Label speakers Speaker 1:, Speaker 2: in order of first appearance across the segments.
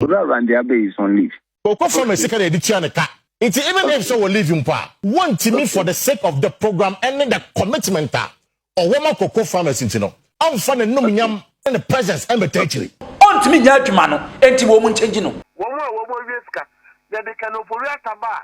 Speaker 1: Owura Randy Abbey is on leave. Ɔkɔ fa me sika na yɛde
Speaker 2: tua ne ka. Nti even if sɛ wɔ leave mpo a, wɔntumi for the sake of the program ɛne the commitment a ɔwɔ ma Koko farmers nti no, amfa n'anumnyam ne ne presence ammɛta akyiri. Ɔntumi nnya adwuma
Speaker 3: no nti wɔnkyɛngyi no. Wɔn a wɔwɔ
Speaker 4: wiesika, yɛde Kenneth Ofori-Atta ba a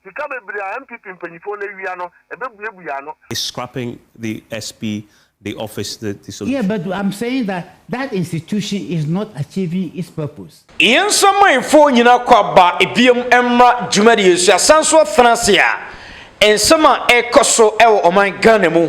Speaker 4: Sika bebree a NPP mpanyinfoɔ no awia no, ɛbɛbue bue ano. is scrapping
Speaker 5: the SP the office the the solution. Yeah but I'm saying
Speaker 6: that that institution is not achieving its purpose. Yɛn nsamanfoɔ
Speaker 3: nyina kɔ aba biom mmra dwumadie so asanso athena ase a nsɛm a ɛkɔ so wɔ ɔman Ghana mu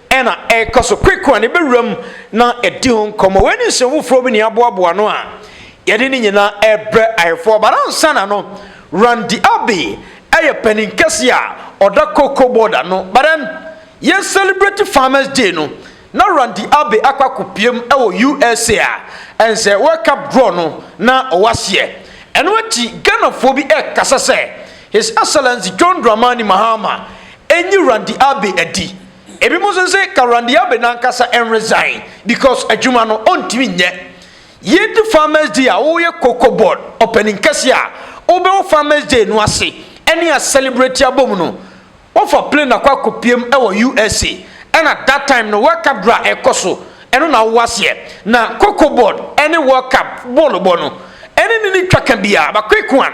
Speaker 3: na ɛrekɔ so kwekwa ne bɛwura mu na ɛdi ho nkɔmmɔ wei ne nsɛm foforɔ bi ne aboaboa no a yɛde ne nyinaa ɛrebrɛ ayefoɔ bara nsa na no Randy Abbey ɛyɛ panin kɛse a ɔda cocoa board ano badan yɛn celebrate farmers day no na Randy Abbey akɔ akɔpiem ɛwɔ USA a ɛnsɛ World Cup draw no na ɔwɔ aseɛ ɛno akyi Ghanafoɔ bi ɛkasa sɛ His Excellency John Dramani Mahama ɛnyi Randy Abbey adi Ebinom nso se Karandiabe nankasa nresign because adwuma no ɔntumi nyɛ. Yɛredu Farmers Day a woyɛ Cocoa Board ɔpanin kɛseɛ a wobɛwɔ Farmers Day no ase ne a celebrate abom no, wofa plane akɔ akɔpiem wɔ USA ɛna that time no World Cup dra ɛrekɔ so ɛno na wowɔ aseɛ. Na Cocoa Board ne World Cup bɔɔlobɔ no ɛne no nni twaka biara but quick one.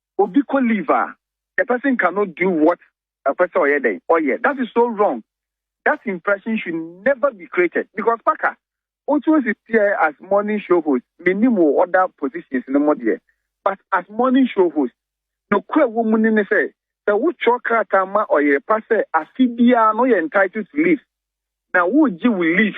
Speaker 1: Obi kɔ leave a the person cannot do what ɔpɛ sɛ ɔyɛ dɛn ɔyɛ that is so wrong that impression should never be created because Parker wotu osi teɛ as morning show host menim wo other positions no mu deɛ but as morning show host nokorɛ ɛwɔ mu ne ne sɛ sɛ wotwerɛ krataa ma ɔyere pa sɛ afe biara no woyɛ entitled to leave na wogye wo leave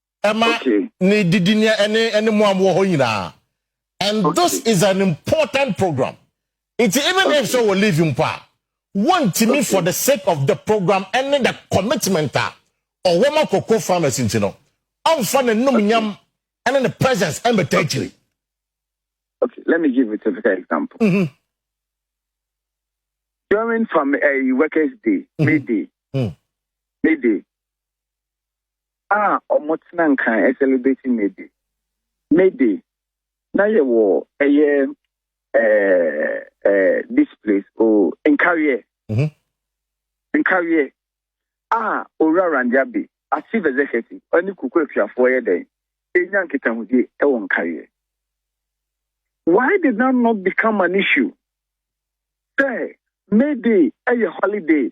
Speaker 2: ɛma ne didi ne ɛne ɛne mu amu wɔ hɔ nyinaa and okay. this is an important program nti even okay. if so wɔ leave mpo a wɔntumi okay. for the sake of the program ɛne the commitment a ɔwɔ ma koko farmers nti no ɔnfa ne num nyam ɛne ne presence ɛmbɛta akyiri.
Speaker 1: Okay, let me give you a typical example. Mm -hmm. During from a uh, eh, workers' day, mm -hmm. midday, mm. midday, a wɔtena nka celebrate May Day. May Day, na yɛwɔ ɛyɛ this place, oh, Nkawie. Mm-hmm. Nkawie. Ah, Owura Randiabe, as chief executive, ɔne kuku atuafoɔ yɛ dɛn? Ɛnya nkitahodie ɛwɔ Nkawie. Why did that not become an issue? Sɛ May Day ɛyɛ holiday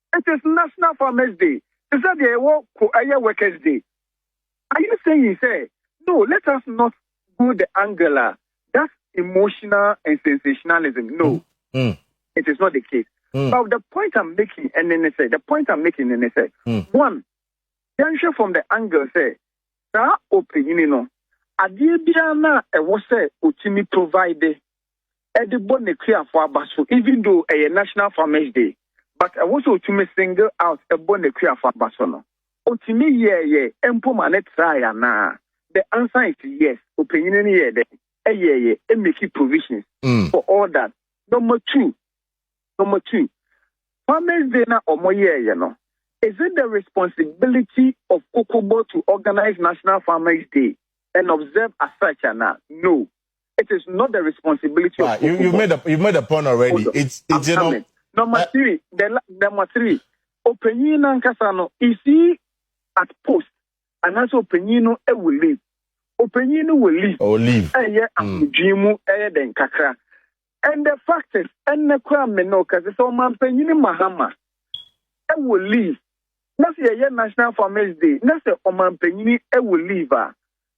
Speaker 1: It is National Farmers Day, te sɛ deɛ ɛwɔ ko ɛyɛ Workers Day. Are you saying sɛ no let us not go the angle a that's emotional and sensationalism? No, mm. mm. it is not the case. Mm. But the point I'm making, and then they say, the point I'm making, and they say, mm. one, yɛnhwɛ from the angle sɛ saa ɔpanyini no adeɛ biara no a ɛwɔ sɛ ɔtumi provide de bɔ n'akuafo aba so even though ɛyɛ National Farmers Day but ɛwɔ sɛ otumi single out bɔ n'akuafo aba so no, otumi yɛɛyɛ mpo ma no trae anaa? The answer is yes, ɔpanyin no yɛɛ dɛn? Ɛyɛɛyɛ, ɛ make provisions for all that. Number two, number two, Farmers Day na wɔn yɛɛyɛ no, is it the responsibility of Kokobo to organize National Farmers Day and observe as such anaa? No. It is not the responsibility of you, you made a, you made a
Speaker 2: point already. Hold it's on. it's I'm you coming. know. Number uh, three,
Speaker 1: the, number three, opanyin nankasa no is he at post and also opanyin no e will leave. Opanyin no will leave. Oh, leave. Ɛyɛ eh,
Speaker 2: ahomdwee hmm. mu
Speaker 1: ɛyɛ eh, den kakra. And the fact is, ɛnna kura mi na ɔkasa sɛ ɔmanpanyin mahama ɛwɔ e leave. Na sɛ yɛyɛ national farmers day, na sɛ ɔmanpanyin ɛwɔ e leave a.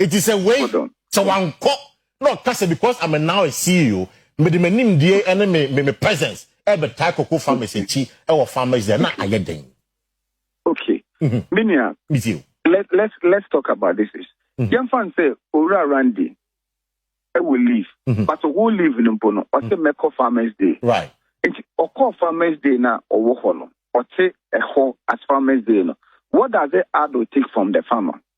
Speaker 2: Eti sɛ wei, Hold on. sɛ wankɔ na ɔka sɛ because I'm a now a CEO, mede m'animdie Okay. ne me me me presence ɛrebɛtae cocoa farmers Okay. akyi wɔ farmers dɛ na Okay. ayɛ dɛn? Okay.
Speaker 1: Mhm. Me nua, Metie o. let,
Speaker 2: let's, let's talk
Speaker 1: about this issue. Mhm. Yɛmfa no sɛ Owura Randy ɛwɔ leave. Mhm. But wo leave no mpo no, ɔte mɛkɔ Farmers Day. Right. Nti
Speaker 2: ɔkɔɔ
Speaker 1: Farmers Day na ɔwɔ hɔ no, ɔte ɛhɔ as Farmers Day no. What does it add or take from the farmer?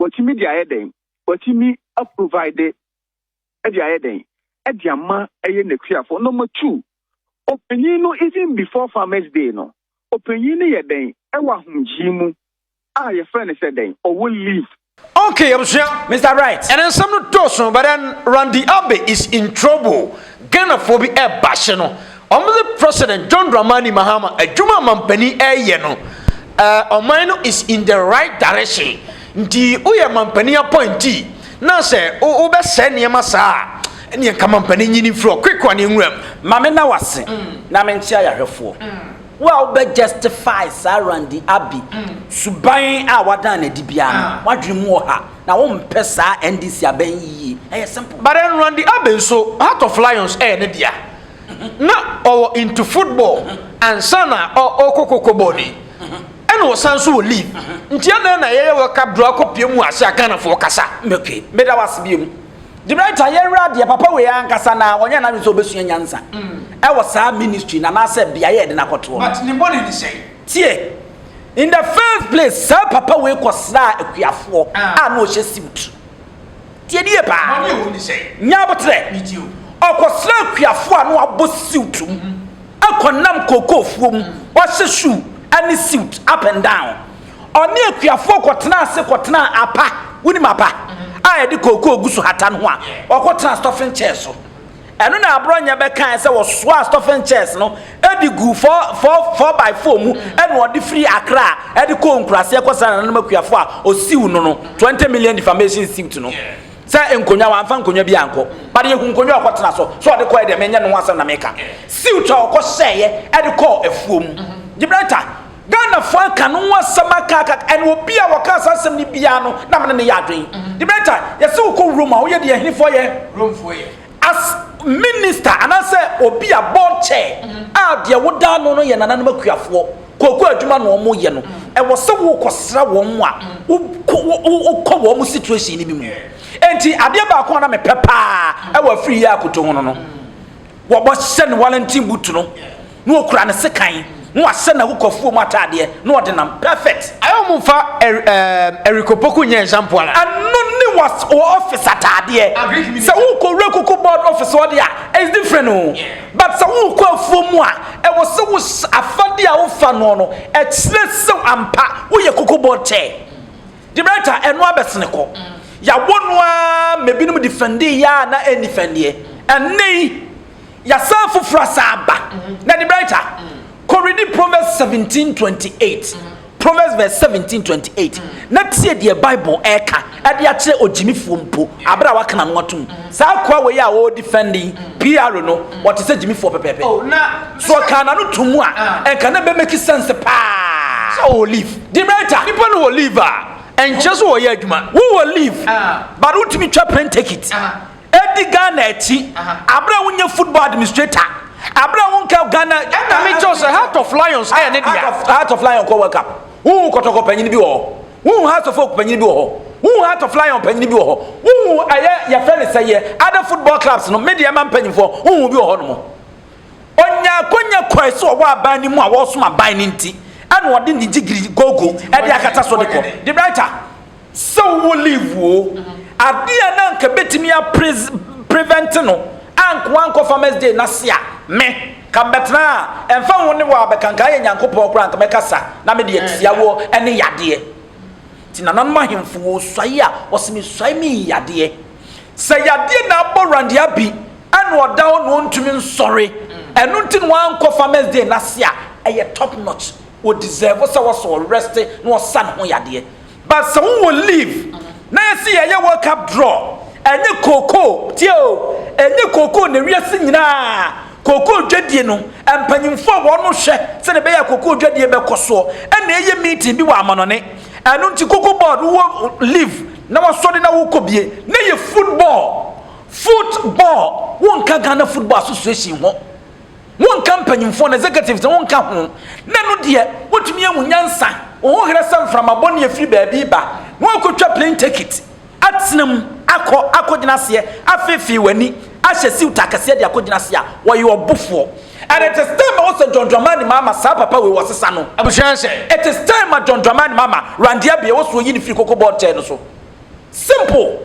Speaker 1: Watumi de ayɛ dɛn? Watumi a provide de ayɛ dɛn? De ama ɛyɛ n'akuafoɔ. Number two, ɔpanyin no even before farmers day no, ɔpanyin no yɛ dɛn ɛwɔ ahomgyee mu a yɛfrɛ no sɛ dɛn? Ɔwɔ leave. Okay abusua,
Speaker 3: Mister Bright ɛnɛ nsɛm no dɔɔso but then Randy Abbey is in trouble, Ghanafoɔ bi ɛɛba ahye no. Wɔdze President John Dramani Mahama adwuma a mampanyin reyɛ no, ɔman no is in the right direction. Ntsi woyɛ mampanyin appointee na sɛ wobɛsɛɛ nneɛma saa a, nneɛ nka mampanyin nyi no mfiri hɔ quick one nwura mu. Ma menna wo ase
Speaker 7: na menkyea yɛahwɛfoɔ. Wo a wobɛ justify saa Randy Abbey suban a wadan no adi biara no, w'adwene mu wɔ ha na wompɛ saa NDC aban yi yie. Ɛyɛ simple. But then Randy Abbey
Speaker 3: nso, Heart of Lions yɛ ne dea. na ɔwɔ into football ansa na ɔkɔ kɔkɔbɔ ni ɛna ɔsan nso wɔ league nti ɛna na yɛyɛ wɔ cup draw akɔ pie mu ase a Ghanafoɔ kasa okay meda wase
Speaker 7: bio mu Debrita yɛwura adeɛ papa wei ankasa na ɔnyɛ n'adwene sɛ ɔbɛsua nyansa ɛwɔ saa ministry na anaasɛ beaeɛ ɛde n'akɔtoɔ but ne bɔne ne sɛn
Speaker 3: tie
Speaker 7: in the first place saa papa wei kɔsraa akuafoɔ a na ɔhyɛ suit Tie no yie paa. Nya
Speaker 3: aboterɛ. Ɔkɔsra akuafoɔ
Speaker 7: a na wɔabɔ suit mu akɔnam kookoofuo mu. Wɔahyɛ shoe ne suit up and down. Ɔne akuafoɔ kɔtenaa ase kɔtenaa apa, wonim apa a yɛde kookoo gu so hata no ho a, wɔkɔtenaa stuffing chair so. Ɛno na Aborɔnyɛ bɛkae sɛ wɔsoaa stuffing chairs no de guu four, four, four by four mu na ɔde firi Accra de kɔɔ nkuraseɛ kɔsraa nananom akuafoɔ a ɔsiw no no 20 million defamation suit no sɛ nkonnwa, wamfa nkonnwa bi ankɔ. But yɛhu nkonnwa a ɔkɔtena so. Sɛ ɔde kɔeɛ deɛ, menyɛ no ho asɛm na meka. Suit a ɔkɔhyɛeɛ de kɔɔ afuo mu. Gibraltar. Ghanafoɔ aka no ho asɛm aka aka aka, and obi a ɔkaa saa asɛm no biara no, na me ne no yɛ adwene. The main time, yɛse wo kɔ Rome a, woyɛ deɛ ɛhenefoɔ yɛ? Romefoɔ yɛ. As minister, anaasɛ obi a board chair, a deɛ woda ano no yɛ nananom akuafoɔ, kooko adwuma na wɔn yɛ no, ɛwɔ sɛ wo kɔ sra wɔn a, wo kɔ wo wo wo kɔ wɔn situation no bi mu. Ɛnti adeɛ baako a na me pɛ paa ɛwɔ afiri yi a akoto ho no no. Wɔbɛhyɛ ne Wellington boot no na ɔkura ne sekan na wahyɛ n'ahokuafoɔ mu ataadeɛ na ɔde nam. Perfect! Ayɛ wɔn mfa
Speaker 3: er erm Eric Opoku nyɛ nshampoo anaa? Ɛno ne wɔ
Speaker 7: wɔ office ataadeɛ. Sɛ worekɔ wura kuku board office hɔ deɛ a, it's different oo. But sɛ worekɔ afuo mu a, ɛwɔ sɛ wohyɛ afadeɛ a wofa noɔ no, ɛkyerɛ sɛ ampa woyɛ kuku board chair. Debate a ɛno abɛsene kɔ. Yɛawɔ no ara ma ebinom defɛndee yɛ a na ɛnni fɛndeɛ. Ɛnnɛ yi, yɛasan foforɔ asan aba. Na Debate, kɔredi Proverbs 17 28. Proverbs verse 17 28. Na tie deɛ Bible ɛreka ɛde akyerɛ ogyimifoɔ mpo abere a waka n'ano atom. Saa akoa wei a ɔredefɛnde yi, PR no, ɔte sɛ gyimifoɔ pɛpɛɛpɛ. So ɔkaa n'ano toom a, ɛnka na ɛbɛmake sense paa sɛ ɔwɔ leave.
Speaker 3: Demeter, nnipa no
Speaker 7: wɔ leave a
Speaker 3: ɛnkyerɛ so wɔyɛ adwuma. Wowɔ leave
Speaker 7: but wotumi twa plane ticket. Edi Ghana akyi abere a wonyɛ football administrator. Abere a wonka Ghana. Ɛna me kyɛw sɛ Heart
Speaker 3: of Lions ɛyɛ ne dea. Heart of
Speaker 7: Lion kɔ World Cup. Wohu kɔtɔkɔ panyin bi wɔ hɔ. Wohu Heart of Oak panyin bi wɔ hɔ. Wohu Heart of Lion panyin bi wɔ hɔ. Wohu ɛyɛ yɛfrɛ ne sɛyɛ other football clubs no me deɛ ma mpanyinfoɔ wohu bi wɔ hɔ nom. Onyaa akwanya kɔe sɛ ɔwɔ aban no mu a wɔresom aban no nti na ɔde ne gyigiri gogo de akata so de kɔ. De writer, sɛ wowɔ leave o, adeɛ a na anka bɛtumi a prevent no a nka wankɔ farmers day no ase a, me, ka mɛtena a, ɛmfa ho ne wo a bɛka, nka ayɛ Nyankopɔn koraa nka mɛka sa na me deɛ tiawoɔ ne yadeɛ. Nti nananom ahemfo wɔresuae a, wɔse mesuae me yi yadeɛ. Sɛ yadeɛ na abɔ Randy Abbey. Ɛna ɔda hɔ na ɔntumi nsɔre ɛno nti na wankɔ farmers day no ase a ɛyɛ top notch wɔ deserve sɛ wɔsɛ wɔ rest na wɔsa ne ho yadeɛ but sɛ wo wɔ leave na yɛsi yɛyɛ world cup draw ɛnyɛ kookoo tie o ɛnyɛ kookoo na wiase nyinaa kookoo dwadie no mpanyinfoɔ a wɔn hwɛ sɛ ne bɛyɛ kookoo dwadie bɛkɔ soɔ ɛna ɛyɛ meeting bi wɔ amanɔne ɛno nti kookoo board wɔ leave na wasɔre na wokɔ bie na yɛ football Foot ball wo nka Ghana football association ho wo nka mpanyimfoɔ no executives wo nka ho na ɛno deɛ wotumi ahu nyansa wo ho herɛ sɛ mframa bɔ ne afiri baabi ba na wakɔtwa plane ticket atena mu akɔ akɔgyina aseɛ afeefee w'ani ahyɛ siwt akɛseɛ de akɔgyina aseɛ a wɔyɛ ɔbofoɔ and it is time wɔ sɛ John Dramani Mahama saa papa wei wɔsesa no abusua nhyɛ it is
Speaker 3: time ma
Speaker 7: John Dramani Mahama Randy Abia wɔ so oyi ne firi koko bɔ nkyɛn no so simple.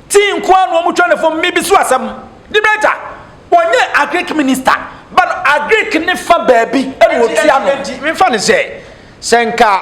Speaker 7: Tea nko ara na wɔtwa no fam me bi so asɛm. Liberator, ɔnyɛ agric minister but agric ne fa baabi na ɔtua no. Nti memfa no sɛ
Speaker 3: sɛ nka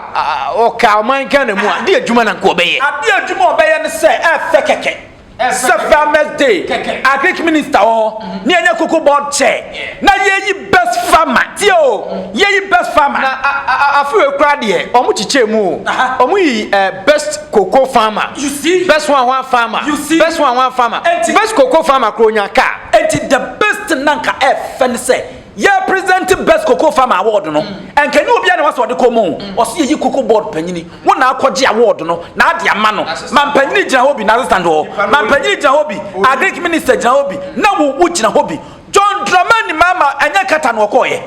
Speaker 3: ɔka ɔman Ghana mu a, de adwuma na nka ɔbɛyɛ. Ade adwuma a ɔbɛyɛ ne
Speaker 7: sɛ ɛfɛ kɛkɛ. Sɛ farmers day, agric minister wɔ hɔ, ne ɛnyɛ cocoa board chair, na yɛyi Best farmer tie o yɛyi best farmer. Na a a a afewe
Speaker 3: koraa deɛ ɔmo kyekyɛɛ mu o. Ɔmo yi eh, best cocoa farmer. You see? Best hwan
Speaker 7: hwan farmer.
Speaker 3: You see? Best hwan hwan
Speaker 7: farmer. Enti.
Speaker 3: Best cocoa farmer koraa ɔnyaa car. Enti the best
Speaker 7: na nka ɛfɛ ne sɛ yɛ present best cocoa farmer award no. Ɛnka ɛnyɛ obiara na ɛwɔ sɛ ɔde kɔ mu o. Ɔse yɛyi cocoa board panyini. Wo na akɔgye award no na ade ama no. Mampanyini gyina hɔ bi, n'assistant wɔ hɔ. Mampanyini gyina hɔ bi, agric minister gyina hɔ bi, na wo wo gyina hɔ bi. John Dramani Mahama ɛnyɛ Qatar na ɔkɔɔyɛ.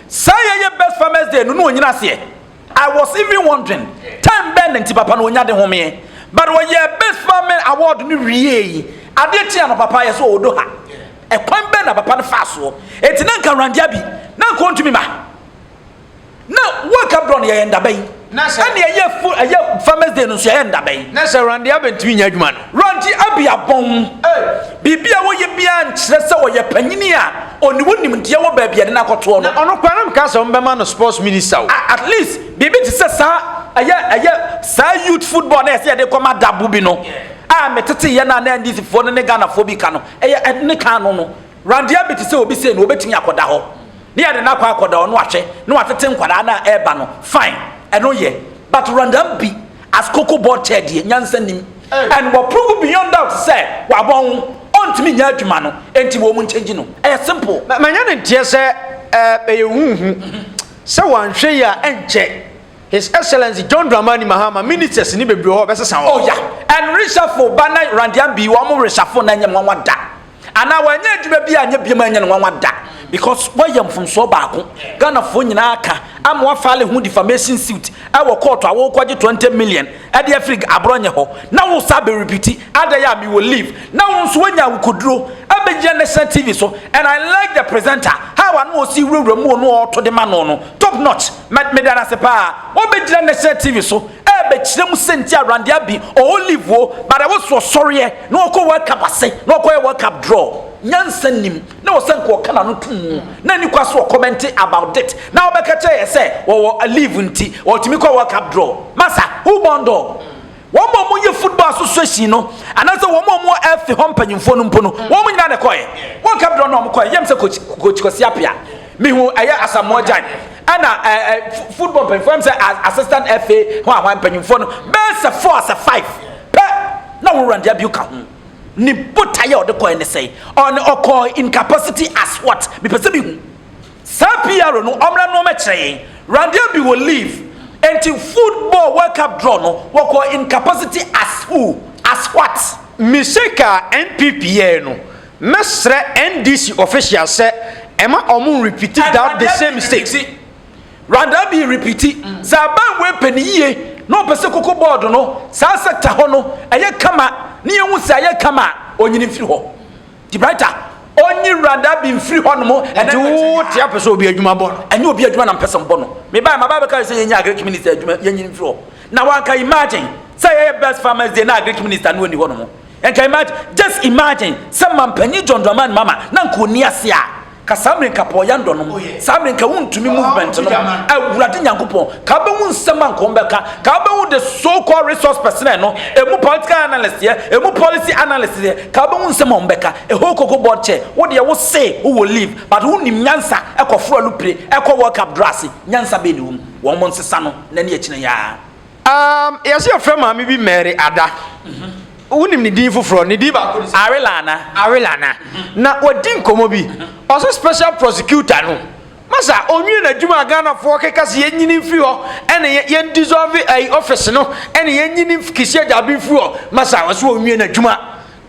Speaker 7: Saa yɛ yɛ best farmers day no na ɔnyina aseɛ. I was even wondering time bɛn na nti papa no ɔnya de homeɛ. But ɔyɛɛ best farming award no wieɛ yi, adeɛ kyeeɛ no papa yɛsɛ ɔwɔ Doha. Ɛkwan bɛn na papa no faa soɔ? Ɛnti na nka Randia bi na nka ɔntumi ma. Na wɔ Gaborone yɛyɛ ndaba yi. Na sɛ. Ɛne ɛyɛ full ɛyɛ farmers day no nso yɛyɛ ndaba yi. Na sɛ Randy Abba ntumi
Speaker 3: nyɛ adwuma no. Randy Abba abɔn.
Speaker 7: Ei. Biribi a wɔyɛ biara nkyerɛ sɛ ɔyɛ panyini a ɔne wo nimdeɛ wɔ baabi yɛde no akɔtoɔ no. Na
Speaker 3: ɔno
Speaker 7: koraa na
Speaker 3: mekaa
Speaker 7: sɛ wɔbɛma
Speaker 3: no
Speaker 7: sports minister o. Ah at least biribi te
Speaker 3: sɛ
Speaker 7: saa
Speaker 3: ɛyɛ
Speaker 7: ɛyɛ saa youth football na yɛsɛ yɛde kɔ ma dabo bi no a meteteeɛ no a na NDC foɔ no ne Ghanafoɔ bi ka no ɛyɛ ɛne kan no no. Randeɛ bi te sɛ obi sei no obetumi akɔda hɔ ne yɛde no akɔ akɔda hɔ no ahwɛ na watete nkwadaa no a ɛreba no fine ɛno yɛ but Randam bi as koko board chair deɛ nyansa nim and wɔ prove beyond doubt sɛ wabɔ ho ɔntumi nyɛ adwuma no enti wɔn mu nkyɛngyi no ɛyɛ simple. Ma ma nyɛ ne nteɛ sɛ
Speaker 3: ɛɛ ɛyɛ huhu sɛ wanhwɛ yi a ɛnkyɛ His Excellency John Dramani Mahama ministers ne bebree hɔ ɔbɛsesa hɔ. Oh yeah and
Speaker 7: reshuffle ba na Randeam bi wɔn reshuffle na ɛnyɛ nwanwa da. anaa wanyɛ adwuma bi a nyɛ biam anyɛ no nwanwa da because wɔyɛ mfomsoɔ baako ghanafoɔ nyinaa ka ama wafale ho defamation suit ɛwɔ kɔɔto a wɔkɔgye 20 million ɛde afiri aborɔ nyɛ hɔ na wo sa bɛrepiti ada yɛ a mewɔ leave na wo nso woanya awokoduro ɛbɛgyina national tv so and i like the presenter how ano ɔsi wurawura mu ɔno ɔɔto de ma no no top notch Mɛ meda no ase paa ɔbɛgyina national TV so ɛbɛkyerɛ mu sɛ nti awurande abi ɔwɔ leave o but ɛwɔ so ɔsɔreɛ na ɔkɔ World Cup ase na ɔkɔyɛ World Cup draw nyansa nim na ɔsɛ nka ɔka n'ano to mu na ni kwa so ɔkɔmɛnte about it na ɔbɛka kyerɛ yɛ sɛ ɔwɔ leave nti ɔtumi kɔ World Cup draw masa who born dog Wɔn a wɔyɛ football association no anaasɛ wɔn a wɔwɔ ɛfe hɔ mpanyinfoɔ no mpo no wɔn nyinaa na ɛkɔɛ wɔn ka brɛ no wɔn kɔɛ yɛm sɛ coach coach Kwasi Apia mihu ɛyɛ Asamoah Gyan ɛna ɛɛ football mpanyinfoɔ yɛm sɛ assistant ɛfe ho ahwan mpanyinfoɔ no bɛyɛ sɛ four sɛ five pɛ na wɔn Randy Abio ka ho ne botaeɛ a ɔde kɔɛ ne sɛ ɔne ɔkɔɔ in capacity as what mepɛ sɛ mihu. Saa PR no ɔmmra no ɔmɛkyerɛ yɛn. Randy Abbey wɔ leave enti foot ball world cup draw no wɔkɔɔ in capacity as who? As what? Mistake a
Speaker 3: NPP yɛɛ no, mɛsrɛ NDC officials sɛ ɛma ɔmo nrepiti that the same mistakes. Randy
Speaker 7: Abbey repiti, sɛ aban wei pɛ ne yie na ɔpɛ sɛ koko board no saa sector hɔ no ɛyɛ kama na yɛhu sɛ ayɛ kama a, ɔnyini mfiri hɔ. Typewriter onyi wurada bi mfiri hɔ nom. Nti wo te apɛ
Speaker 3: sɛ obi adwuma bɔ no? Ɛnyɛ obi adwuma na mpɛ sɛ
Speaker 7: mbɔ no. Me baa ma baa bɛka sɛ yɛnya agric minister adwuma yɛnyi no mfiri hɔ. Na wanka imagine sɛ yɛyɛ best farmers day na agric minister no ɔnni hɔ nom. Nka imagine just imagine sɛ mampanyin John Dramani Mahama na nka ɔnni ase a Ka saa mire nka pɔɔ yɛ ndɔ nom, saa mire nka wo ntumi movement nom, awurade nyankopɔn, ka wobɛhu nsɛm a nka wɔn bɛka, ka wobɛhu the so called resource personnel no, ɛmu political analyst yɛ, ɛmu policy analyst yɛ, ka wobɛhu nsɛm a wɔn bɛka, ɛhoo koko board chair, wo deɛ wo se wo wɔ leave, but wo nim nyansa, ɛkɔ foro alupire, ɛkɔ world cup duro ase, nyansa bɛn na ɛwɔ mu, wɔn nsesa no, nnɛ ne akyina yi aa. Um, yɛsɛ
Speaker 3: yɛfrɛ maame bi Mary Ada. Wonim ne din foforɔ, ne din baako ne Arela Ana. Arela Ana. Mm-hmm. Na wɔdi nkɔmmɔ bi. Mm-hmm. Ɔsɛ special prosecutor no. Masa, ɔnwie n'adwuma a Ghanafoɔ keka se yɛnyini mfiri hɔ, ɛne yɛn dissolve ɛyi eh, office no, ɛne yɛnyini kisi agyabe mfiri hɔ. Masa, ɔsɛ ɔnwie n'adwuma.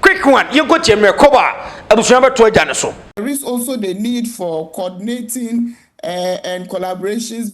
Speaker 3: Quick one, yɛnkɔ tie mmerɛ kɔbɔ a abusua bɛto agya no so. There is also the
Speaker 8: need for coordinating uh, and collaborations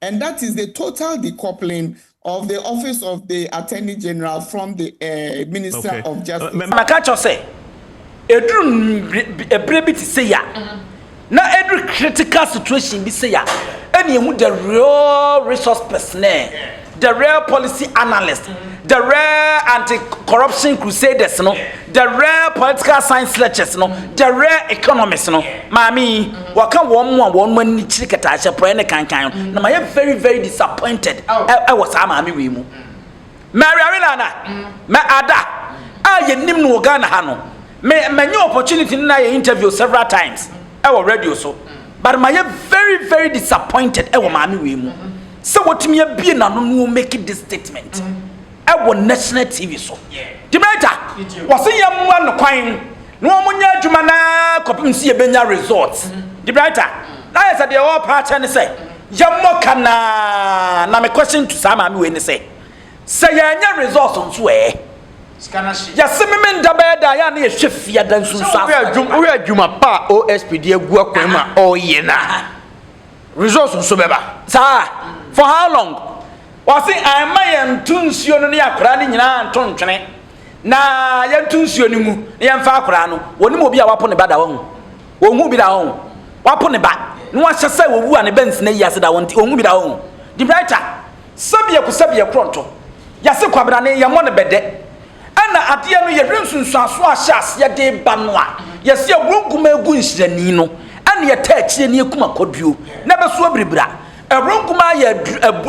Speaker 8: and that is the total decoupling of the office of the Attorney General from the uh, Minister okay. of Justice. Uh, Maka kyerɛ sɛ
Speaker 7: ɛduru ɛberɛ bi te sɛ ya na ɛduru critical situation bi sɛ ya ɛne ɛhu the real resource personnel the real policy analyst the real anti-corruption crusaders no The Rare Political Science Lectures no, The Rare Economist no, maame yi, wɔka wɔn mo a wɔn ani kyiri kataahyɛ porɔɛ ne kankan no, na mayɛ very very disappointed ɛwɔ saa maame wei mu. Mary Arellana, mɛ ada a yɛnim no wɔ Ghana ha no, me manya opportunity ne no ayɛ interview several times ɛwɔ radio so, but mayɛ very very disappointed ɛwɔ maame wei mu sɛ watumi abie n'ano na ɔmake this statement. ɛwɔ National TV so. Dimeta, wɔse yɛmmoa no kwan na wɔnyɛ adwuma no ara kɔpem sɛ yɛbɛnya result. Dimeta, na ayɛ sɛ deɛ wɔrepɛ akyɛ ne sɛ yɛmmɔ ka no ara, na me question to saa maame wei ne sɛ, sɛ yɛanyɛ result nso ɛɛ? Sika no ahye. Yɛse Memenda bɛyɛ dɛ a, yɛ a na yɛhwɛ fiada nsunsuansoɔ. Sɛ wohwɛ adwuma
Speaker 3: pa a OSP de agu akwan mu a ɔreyɛ no a. Results nso bɛba saa.
Speaker 7: For how long? Wɔse ɛmma yɛnto nsuo no ne akwadaa no nyinaa nto ntwene na yɛnto nsuo no mu na yɛmfa akwadaa no. Wɔnim obi a wapo ne ba da wɔn. Wɔhu bi da wɔn. Wapo ne ba na wahyɛ sɛ wɔwu a ne ba nsina yi ase da wɔn nti wɔhu bi da wɔn. De brighter sɛbiako sɛbiakorɔ nto. Yɛse kwabena ne yɛmmɔ no bɛdɛ. Ɛna adeɛ no yɛhwɛ nsunsuansoɔ a ahyɛ aseɛ de ba no a, yɛsɛ yɛworo nkumaa gu nhyirani no ɛne ɛtɛ akyire ne ɛkum akɔduo na ɛbɛsoɔ biribira. Ɛworo nkumaa yɛ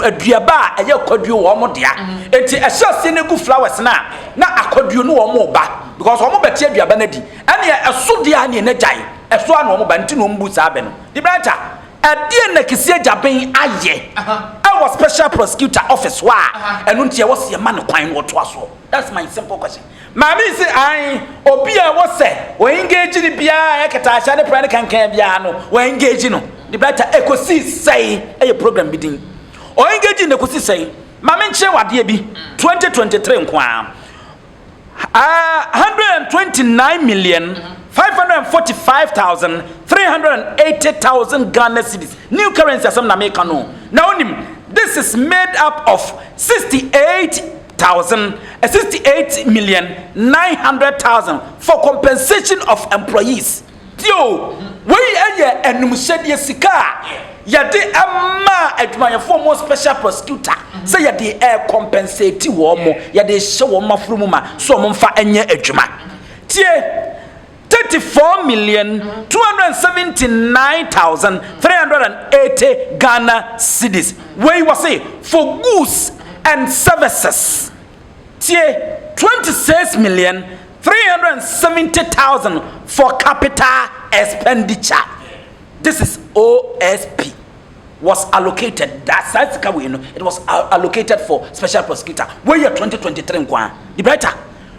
Speaker 7: aduaba a ɛyɛ akɔduo wɔ wɔn dea. Enti ɛhyɛ aseɛ no ɛgu flowers no a na akɔduo no wɔn reba because wɔn bɛte aduaba no adi. Ɛne ɛso deɛ a ne ɛna gyae ɛso a na wɔn ba nti na wɔn bu saa bɛ no. Debrah Atta. Ɛdeɛn na Kisii Agyaben ayɛ wɔ special prosecutor office hɔ a ɛno nti ɛwɔ sɛ yɛma no kwan na ɔtoa soɔ? That's my simple question. Maame yi se ae, obi a ɛwɔ sɛ wɔ engage no biara a ɛyɛ kɛtɛahyɛ ne prɛ ne kankan biara no wɔ engage no ne bɛta ɛkɔsii sɛi ɛyɛ program bi din ɔ engage no ɛkɔsi sɛi? Ma menkyerɛ wo adeɛ bi 2023 nko ara 129,545,380 Ghana cedis new currency asɛm na meka no na wonim this is made up of 68,000 68,900,000 for compensation of employees Bio, wei yɛ anumsɛdeɛ sika a yɛde maa adwumayɛfoɔ mu special prosecutor sɛ yɛde ɛrekɔmpɛnsɛti wɔn mo, yɛde hyɛ wɔn maforo mu ma sɛ wɔn mfa nyɛ adwuma. Tie, 34 million 279,380 Ghana cedis. Wei wɔse for goods and services. Tie, 26 million 370,000 for capital expenditure. This is OSP was allocated that saa sika wei no it was allocated for special prosecutor wei yɛ 2023 nko a the brighter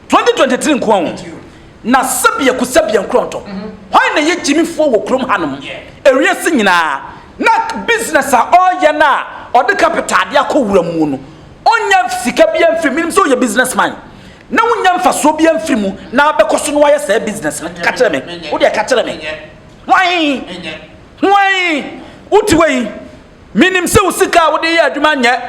Speaker 7: 2023 nko a o na sɛbia ku sɛbia nkorɔntɔ hwan na yɛ gyimifoɔ wɔ kurom hanom ewie si nyinaa na business a ɔyɛ no a ɔde capital de akɔ wura mu no Ɔnnya sika biara mfiri mu. Menim sɛ woyɛ business man na wonnya mfasoɔ biara mfiri mu na abɛkɔ so na wayɛ saa business no. Ka kyerɛ me. Wo deɛ ka kyerɛ me. Hwan? Hwan? Wote hɔ yi, menim sɛ wo sika a wode yɛ adwuma nyɛ.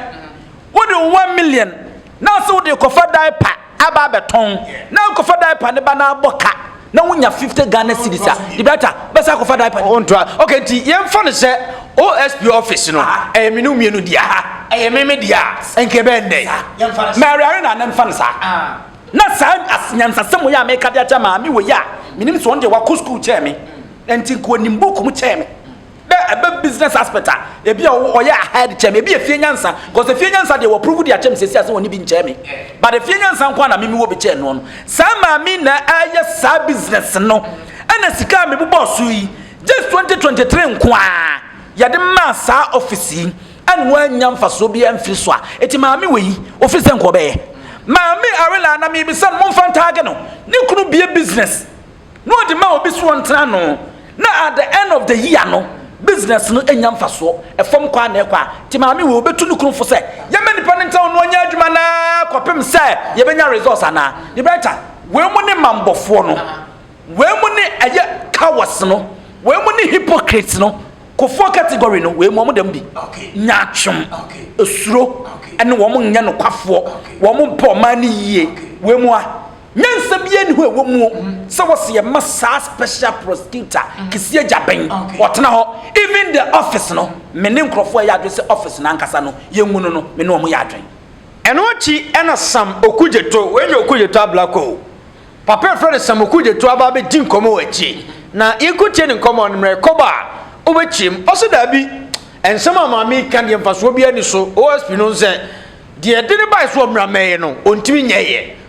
Speaker 7: Wode wo one million na ase wode rekɔfa diaper. aba abɛtɔn na akɔfa diaper ne ba na abɔ ka na wonya 50 Ghana cedis a Gibraltar bɛsa akɔfa diaper no ntoa ok nti
Speaker 3: yɛmfa no sɛ OSP office no ɛyɛ me no mmienu deɛ ha ɛyɛ me me deɛ a nka ɛbɛyɛ nnɛ Mary Arena na mfa no saa ah. na saa nyansasɛm wɔ yɛ a meka de akyɛ maame wɔ yɛ a menim sɛ ɔno deɛ wakɔ sukuu kyɛɛ me nti nka ɔnim buku mu kyɛɛ me Dɛ ɛbɛ business aspect a ebi a ɔyɛ ahead kyɛn me, ebi yɛ fie nyansa, cause fie nyansa deɛ wɔ prove de akyɛm sɛsi a sɛ wɔne bi nkyɛn me, but fie nyansa nko ara na me me wɔ bi kyɛn noɔ no, saa maame yi na ɛɛyɛ saa business no, ɛna sika a me bobɔɔ so yi, just twenty twenty three nko ara yɛde maa saa office yi, ɛna wannya mfasoɔ biara mfiri so a, eti maame wei ofiri sɛ nka ɔbɛyɛ? Maame Arella na mebisa no, mo nfa ntag no, ne kunu bue business. na ɔde ma obi so ɔntena ano na at the end of the year no business no nya mfasoɔ ɛfam kɔ a na ɛkɔ a nti maame wei ɔbɛtu ne kunu fo sɛ yɛma nipa no ntena ɔno ɔnyɛ adwuma na kɔpem sɛ yɛbɛnya results anaa yɛbɛta wei mu ne mambɔfoɔ no wei mu ne ɛyɛ cowards no wei mu ne hypocrites no kofoɔ category no wei mu wɔn dɛm bi nyaatwom esuro ɛne wɔn nyɛ nokwafoɔ wɔn mpɛ ɔman no yie wei mu a Nyansa biara nni hɔ a ɛwɔ mu sɛ wɔsi yɛma saa special prosecutor Kissi Agyabeng ɔtena hɔ. Even the office no, me ne nkurɔfoɔ a ɛyɛ adwene sɛ office no ankasa no yɛngu no no, me ne wɔn yɛ adwene. Ɛno akyi na Sam Okudzeto, wei nyɛ Okudzeto Ablakwa o, papa a yɛfrɛ no Sam Okudzeto aba abɛdi nkɔmmɔ wɔ akyire. Na yɛkɔtiee ne nkɔmmɔ no, mmerɛ kɔba a, wobɛkyeam. Ɔse daabi, nsɛm a maame yi ka deɛ mfasoɔ biara nni so, OSP no nsɛ deɛ ɛde no baeɛ sɛ ɔmmra mmɛyɛ no, ɔntumi nyɛeɛ.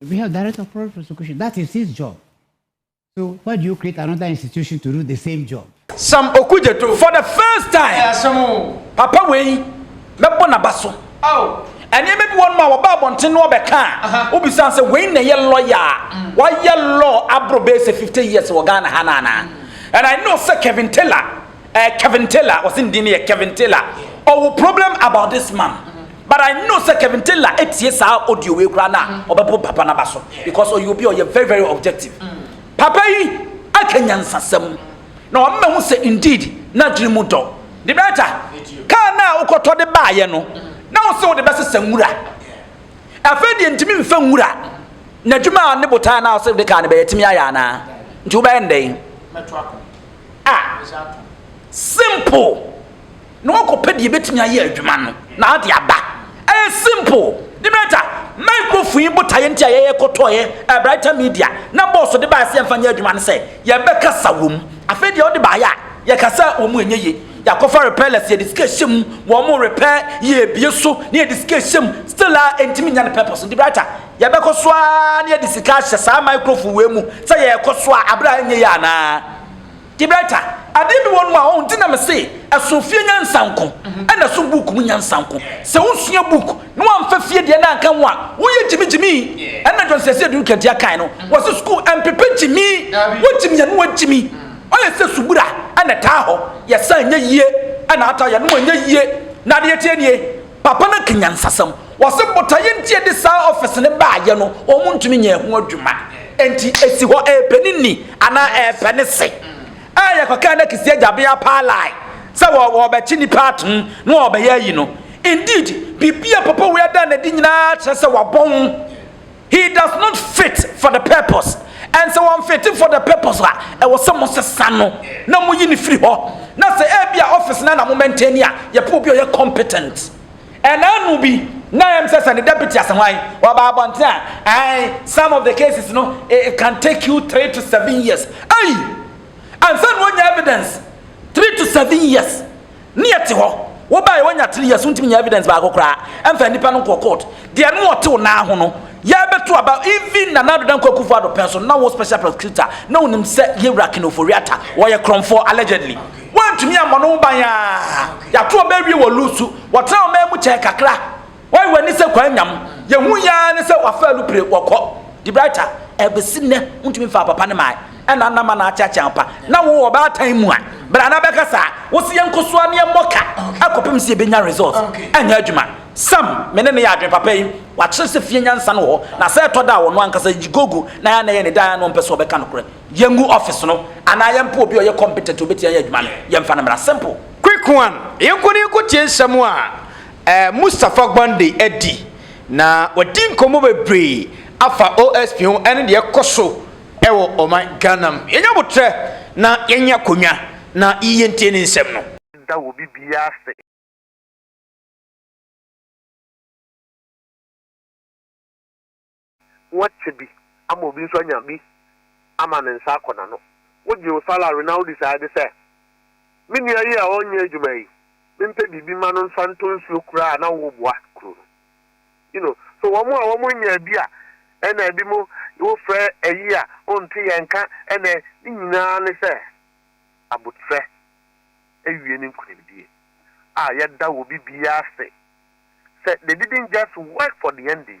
Speaker 6: If you have direct or cross prosecution, that is his job. So why do you create another institution to do the same job? Sam Okudzeto
Speaker 7: for the first time. Papa wei mɛbɔ n'aba so. Nneɛma bi wɔ nom a wɔba abɔnten no wɔbɛka a wobisan sɛ wei na ɛyɛ lɔya a wayɛ law aboro bɛyɛ sɛ 50 years wɔ Ghana ha no anaa? And I know sɛ Kevin Taylor Eh Kevin Taylor wɔse ne din no yɛ Kevin Taylor ɔwo problem about this man but I know sɛ Kevin Taylor etie saa audio wei koraa no a ɔbɛpo papa no aba so because ɔyɛ obi a ɔyɛ very very objective papa yi aka nyansasɛm na ɔma mahu sɛ indeed n'adwene mu dɔ de bɛta kaa no a wokɔtɔ de baayɛ no na wo sɛ wode bɛsesa nwura afei deɛ ntumi mfa nwura n'adwuma a ne botae no a wosɛ wode kaa no bɛyɛ tumi ayɛ anaa nti wobɛyɛ ndɛn Ah! Simple! Na wakɔpɛ deɛ ɛbɛtumi ayɛ adwuma no, na ade aba. Ɛyɛ simple. Nimrata, microphone yi botaeɛ nti a yɛyɛ kɔtɔeɛ eh, Brighter Media, na bɔɔso de baeɛ sɛ yɛmfa nyɛ adwuma no sɛ, yɛbɛkasa wɔ mu. Afei deɛ wode baeɛ a, yɛkasa wɔ mu ɛnyɛ yie. Yɛakɔfa repairless, yɛde sika hyɛ mu, wɔn repair, yɛrebue so, na yɛde sika hyɛ mu, still a ɛntumi nyɛ ne purpose. Nti Brighter, Yɛbɛkɔ so ara na yɛde sika ahyɛ saa microphone wei mu sɛ yɛrekɔ so a, abere a ɛnyɛ yɛ anaa? Tiberta, adeɛ bi wɔ nom a, ɔho, nti na mese ɛso fie nyansa nko, ɛna ɛso book mu nyansa nko. Sɛ wosua book na woamfa fie deɛ no anka ho a, woyɛ gyimigyimi. Ɛna John Sɛsɛ Adu Nkantia kae no, wɔse sukuu ɛmpepe gyimi, wogyimi a na woagyimi. Ɔyɛ sɛ subura ɛna ɛtaa hɔ, yɛsa ɛnyɛ yie, ɛna ata yɛnom ɛnyɛ yie, na adeɛ teɛ nie. Papa no ka nyansasɛm. Ɔse botaeɛ nti a ɛde saa office no baayɛ no, wɔn ntumi nyɛ ɛho adwuma. Nti ɛsi hɔ ɛɛpɛ ne ni anaa ɛɛpɛ ne se. A yɛkɔkaa no Kisii Agyabeaa paa line sɛ wɔɔbɛkye nnipa atom na wɔɔbɛyɛ ayi no. Indeed, biribi a papa wei ada no adi nyinaa kyerɛ sɛ wabɔn. He does not fit for the purpose. And sɛ wɔmfete for the purpose a, ɛwɔ sɛ mosesa no na moyi no firi hɔ. Na sɛ ebi a office na na mo maintain a, yɛpɛ obi a ɔyɛ competent. Ɛnaanu bi, na ɛyɛ me sɛ sɛ ne deputy asɛ hwan, ɔba abɔnten a, ae, some of the cases no, it can take you three to seven years. Ei! Ansa na wɔnya evidence, three to seven years. Ne yɛ te hɔ wo baeɛ wanya three years wontumi nya evidence baako koraa ɛmfa nipa no nkɔ court deɛ no ɔte wo nan ho no yɛbɛto aba even Nana Addo Dankwa Akufo Addo pɛn so na wo special prosecutor na wonim sɛ yɛwura Ken Ofori-Atta wɔyɛ korɔmfoɔ allegedly woantumi ammɔ no ho ban aa yɛato ɔbɛ awie wɔ lusu wɔtena ɔman mu kyɛn kakra Wai w'ani sɛ kwan nyam? Yɛ hu yi ara ne sɛ w'afa alupire wɔ kɔ. Dibraita, ɛbesi nnɛ wontumi mfaa papa no mae ɛna nna ma na akyeakyea wo pa na wo wɔ ɔbaatan mu a bra na bɛka saa wo se yɛnkɔ so a ne yɛmmɔ ka akɔpem se yɛbɛnya result ɛnyɛ adwuma Sam me ne no yɛ adwene papa yi wakyerɛ sɛ fie nyansa no wɔ hɔ na sɛ ɛtɔ da a wɔno ankasa yi gogo na yɛ anayɛ ne dan a na ɔmpɛ sɛ ɔbɛka nokorɛ yɛngu office no anaa yɛmpɛ obi a ɔyɛ competent ɔbɛtia yɛ adwuma no yɛmfa no mmra simple Quick one,
Speaker 3: yɛnkɔ na yɛnkɔtie nsɛm a. Mustapha Gwande adi, na wadi nkɔmmɔ bebree afa OSP ho ne deɛ ɛkɔ so wɔ ɔman Ghana mu. Yɛnya aboterɛ na yɛnya akonnwa na yɛntie ne nsɛm no. Da wɔ biribiara
Speaker 4: ase. Wɔakyɛ bi ama obi nso anya bi ama ne nsa akɔ n'ano. Wogye Osala Rinaldi saa de sɛ, Me nua yi a ɔnyɛ adwuma yi, mempɛ biribi mma no mfa ntɔ nsuo koraa a na ɔwɔ bua kuro no. You know, so wɔn a wɔnyaa bi a ɛna bi mo wofrɛ ayi a wonte yɛn nka ɛnɛ ne nyinaa ne sɛ abotrɛ awie ne nkunimdie a yɛda wɔ bi biara ase sɛ they didn't just work for the NDC.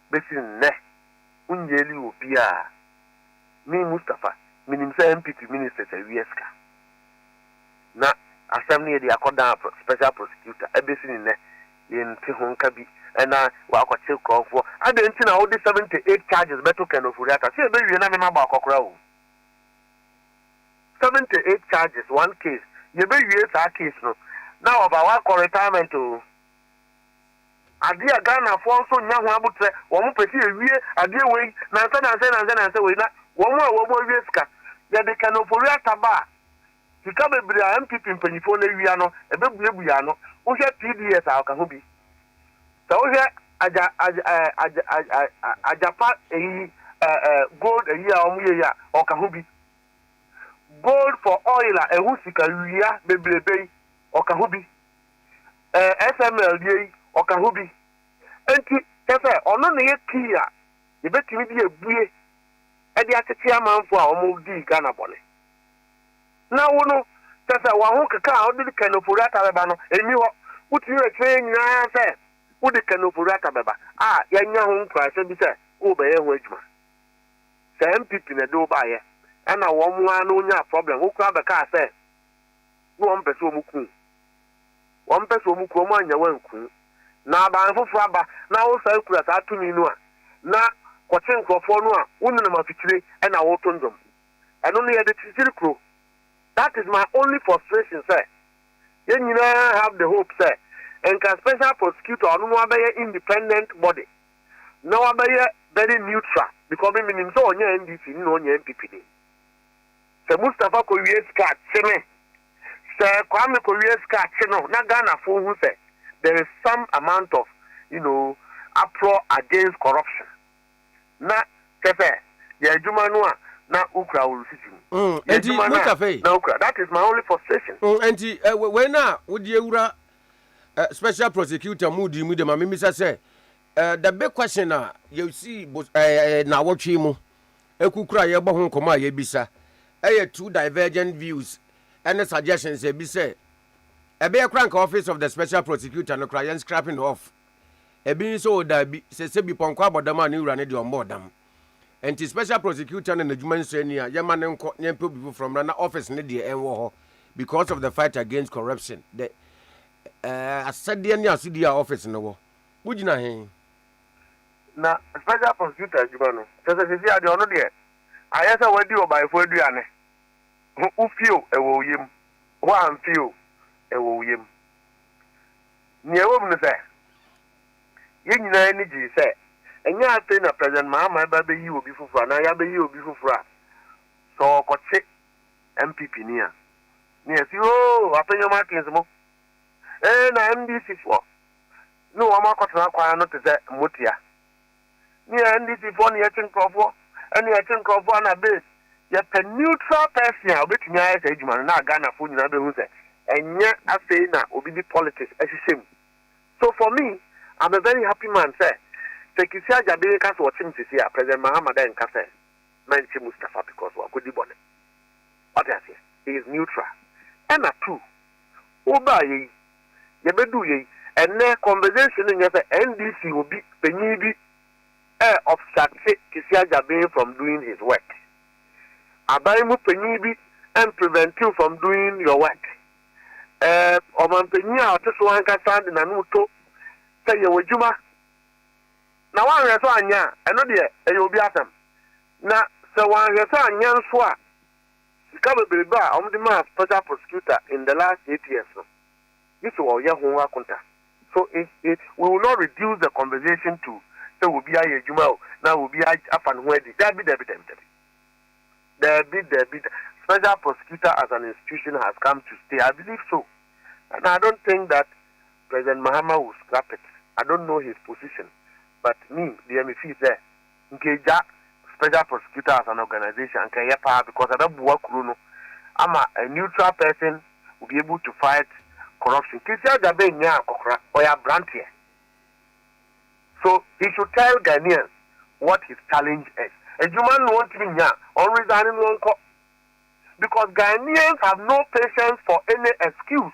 Speaker 4: besi nnɛ wonyieli obiaa. Me Mustapha menim sɛ NPP ministers awia sika na asɛm no yɛde akɔ dan special prosecutor ɛbesi ne nnɛ yɛnte ho nka bi ɛna wakɔkye krɔnfoɔ adɛn nti na wode 78 charges bɛto Ken Ofori Atta sɛ yɛbɛwie na mema baakɔ koraa oo 78 charges one case yɛbɛwie saa case no na ɔba wakɔ retirement oo. Adeɛ a Ghanafoɔ nso nnya ho aboterɛ, wɔn pɛ sɛ yɛwie adeɛ wei nansa nansa yi nansa nansa wei na wɔn a wɔwɔ awia sika. Yɛde kɛn ofori ata ba a, sika bebree a NPP mpanimfoɔ no awia no, ɛbɛbue yɛn ano. Wohwɛ TDS a, ɔka ho bi. Sɛ wohwɛ agya agya eh, agya agya agya agyapa ayi eh, eh, gold ayi a wɔyɛ yi a, ɔka ho bi. Gold for oil a ɛho sika wia bebrebe yi, ɔka ho bi. ɛɛ XML deɛ yi, ɔka ho bi. Enti, kyerɛ sɛ, ɔno na ɛyɛ key a yɛbɛtumi de abue de akyekye amanfoɔ a wɔdii Ghana bɔne. Na wo no, kyerɛ sɛ, w'ahokeka a wode de Ken Ofori-Atta bɛba no, ɛnni hɔ. Wotumi bɛkyerɛ yɛn nyinaa sɛ wode Ken Ofori-Atta bɛba a, yɛanya ho nkuranhyɛ bi sɛ worebɛyɛ ho adwuma. Sɛ NPP na ɛde wo baeɛ, ɛnna wɔn ara na wɔnyaa problem, wo koraa bɛkaa sɛ, na wɔmpɛ sɛ wɔku wo. Wɔmpɛ sɛ wɔku wo, wɔannya wo anku wo. Na aban foforɔ aba na wosan kura saa tumi no a, na kɔkye nkurɔfoɔ no a wonenam afikyire na woreto nnwom. Ɛno no yɛde kyekyere kuro. That is my only frustration sɛ yɛn nyinaa have the hope sɛ nka special prosecutor a ɔno no abɛyɛ independent body na wabɛyɛ very neutral because me menim sɛ ɔnyɛ NDC ni na ɔnyɛ NPP ni. Sɛ Mustapha kɔ wie sika a kye me, sɛ Kwame kɔ wie sika a kye no na Ghana foɔ hu sɛ there is some amount of you know aprɔ against corruption na kyɛ sɛ yɛ adwuma no a na wo kura wo risiti mu. Mm, Yɛ enti adwuma no a Mustapha yi. na wo kura that is my only frustration. Mm, enti eh, we- wei no
Speaker 9: a wode awura eh, special prosecutor mood yi mu de ma memisa sɛ Eh, the big question a yɛsii bo eh, eh, nnawɔtwe yi mu kukura a yɛbɔ ho nkɔmmɔ a yɛbisa yɛ two divergent views ne suggestions a ebi sɛ ɛbɛyɛ koraa nka office of the special prosecutor no koraa yɛn scrapping no off ebi nso o daabi sɛ sɛ bi pɔnkɔ abɔ dam a ne wura no deɛ ɔmmɔɔ dam nti special prosecutor no n'adwuma nsɔ ani a yɛma no nkɔ na yɛmpɛ obi foforɔ mmra na office no deɛ ɛnwɔ hɔ because of the fight against corruption the eh, asɛdeɛ ne asodie a office no wɔ Wogyina he?
Speaker 4: Na special prosecutor adwuma no, kyerɛ sɛ seesei adeɛ ɔno deɛ ayɛ sɛ wadi ɔbaefoɔ aduane, ho wo fie o ɛwɔ wo yam, ho amfie o ɛwɔ wo yam. Nea ɛwɔ mu ne sɛ, yɛn nyinaa ani gyee sɛ ɛnyɛ afei na President Mahama reba abɛyi obi foforɔ anaa yɛabɛyi obi foforɔ a sɛ ɔrekɔkye NPP ni a, na yɛse oo, apɛ nneɛma akense mo, ee na MDC foɔ. ne wɔn akɔtena kwan ano te sɛ mmotia. Nea NDC foɔ ne yɛkye nkorɔfoɔ ɛne yɛkye nkorɔfoɔ a na base yɛpɛ neutral person a ɔbɛtumi ayɛ saa adwuma no na Ghana foɔ nyinaa bɛhu sɛ ɛnyɛ afei na obi de politics ahyehyɛ mu so for me I'm a very happy man sɛ sɛ Kissi Agyabin reka sɛ ɔkye me sisi a President Mahama dɛ nka sɛ mɛnkye Mustapha because wakɔdi bɔne wate aseɛ he is neutral ɛna two wobaayɛ yi yɛbɛduu yei. Ɛnnɛ conversation no nyɛ sɛ NDC obi panyin bi ɛ obstate Kesi Agyabeng from doing his work. Aban mu panyin bi ɛnprevent you from doing your work. Ɛ ɔmanpanyin a ɔte so ankasa de n'ano to sɛ yɛ w'adwuma na wanhwɛ so anyɛ a, ɛno deɛ ɛyɛ obi asɛm. Na sɛ wanhwɛ so anyɛ nso a, Sika beberebe a wɔde maa Special Prosecutor in the last eight years no, gye sɛ wɔyɛ ho akonta. So eh eh, we will not reduce the conversation to sɛ obi ayɛ adwuma o, na obi afa ne ho adi. Dabi, dabi, dabi, dabi. Dabi, dabi, da. Special Prosecutor as an institution has come to stay, I believe so. And I don't think that President Mahama will scrap it. I don't know his position, but me deɛ, me feel sɛ, nka egya special prosecutors and organization anka ɛyɛ paa because ɛbɛboa kuro no ama a neutral person will be able to fight corruption Kwesi Adjabeh nyaa akɔkora ɔyɛ abranteɛ so he should tell Ghanaians what his challenge is adwuma no ɔntumi nya a ɔnresign no ɔnkɔ because Ghanaians have no patience for any excuse.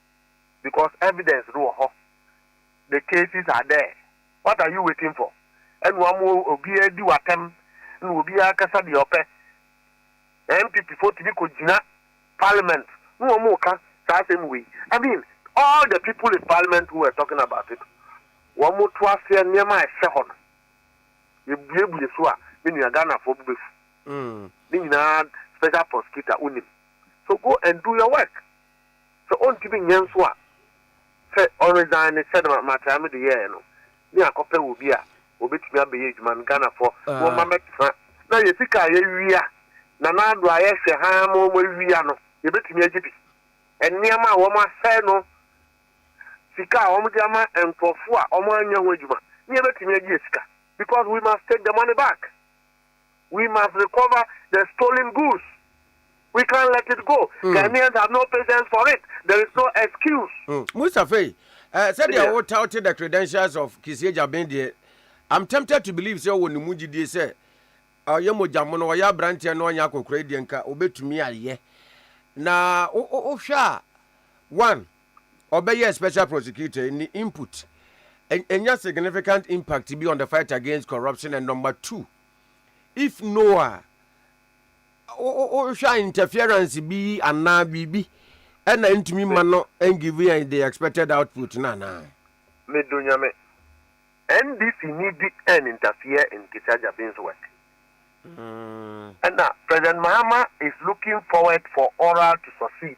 Speaker 4: because evidence no wɔ hɔ the cases are there what are you waiting for ɛna ɔmo obiara adi w'atɛm ɛna obiara kasa deɛ ɔpɛ NPP fo tumi kɔ gyina parliament na ɔmo ka saa asɛm wei I mean all the people in parliament who were talking about it wɔn to aseɛ nneɛma a ɛhyɛ hɔ no yɛbuebue so a me nua Ghanafoɔ bo bɛfu ne nyinaa special prosecutor wonim so go and do your work. Sɛ ontumi nyɛ nso a, sɛ ɔresign ne sɛde Matrayame de yɛɛ no, ne akɔpɛ obi a obetumi abɛyɛ adwuma no, Ghanafoɔ wɔmma mmɛtena na yɛn sika a yɛawia, Nana Addo a yɛhwɛ haa ma wɔawia no, yɛbɛtumi agye bi. Nneɛma a wɔasɛe no, sika a wɔde ama nkurɔfoɔ a wɔanyɛ ho adwuma, ne yɛbɛtumi agye yɛn sika because we must take the money back. We must recover the stolen goods. We can't let it go. Mm. Ghanaians have no patience for it. There is no excuse. Mm. Mustafa, uh,
Speaker 9: said yeah. they touted the credentials of Kisie Jabin I'm tempted to believe sɛ wɔ ne mu gyidie sɛ ɔyɛ mogya mono ɔyɛ aberanteɛ na ɔnyɛ akɔkora deɛ nka ɔbɛtumi ayɛ na wohwɛ a one ɔbɛyɛɛ special prosecutor ne input anya significant impact bi on the fight against corruption and number two if no a wohwɛ a interference bi anaa biribi ɛna ntumi ma no ngivi yɛn the expected output no anaa. Medo
Speaker 4: Nyame. NDC ni bi ɛn interfere in Ketia Jabin's work. Ɛna President Mahama is looking forward for oral to succeed.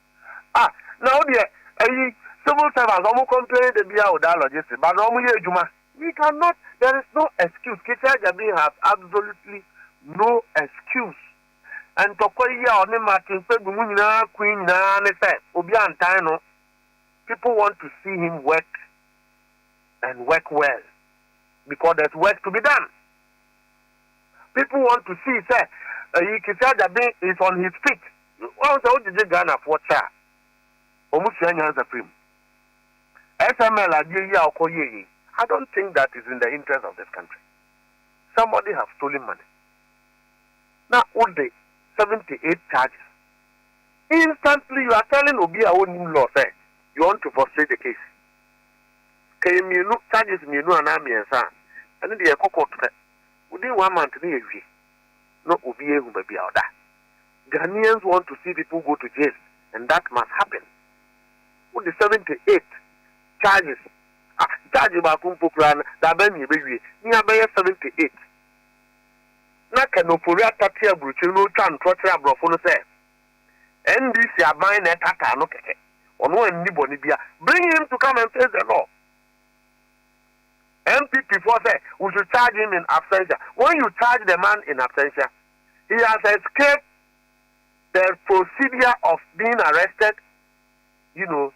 Speaker 4: Ah na wo deɛ ɛyi civil servants ɔmo complain da biaa o dialogue se ba na ɔmo yɛ adwuma. We can not there is no excuse Kete Agyabin has absolutely no excuse ntɔkwa yi a ɔne Martin Kpebu mo nyinaa kui nyinaa ne sɛ obi antan no people want to see him work and work well because there's work to be done. People want to see sɛ ɛyi Kissi Agyabe is on his feet. Wahu sɛ wogyegye Ghanafoɔ kyɛ a, wɔn sua nyansa firi mu. SML adeɛ yi a ɔkɔ yɛɛ yei, I don't think that is in the interest of this country. Somebody have stolen money na wode 78 charges. Instantly you are telling obi a ɔnnim law sɛ you want to frustrate the case. Sɛ ɛyɛ mmienu, charges mmienu anaa mmiɛnsa a, ɛno deɛ yɛkɔ court pɛ. Within one month no yɛwie na obiara ahu baabi a ɔda. Ghanaians want to see people go to jail and that must happen. Wode seventy eight charges a, charge baako mpo koraa no da bɛn na yɛbɛwie? Ne abɛyɛ seventy eight. Na Ken Ofori-Atta te aburokyire na ɔretwa ntorɔ kyerɛ aborɔfo no sɛ, NDC aban na ɛtaataa no kɛkɛ, ɔno anni bɔne bia, bring him to come and face the law. NPP foɔ sɛ we should charge him in absentia, when you charge the man in absentia, he has escaped the procedure of being arrested, you know,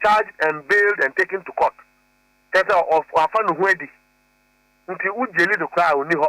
Speaker 4: charged and bailed and taken to court, kyɛ sɛ wafa ne ho adi, nti wo gyeli no koraa ɔnni hɔ.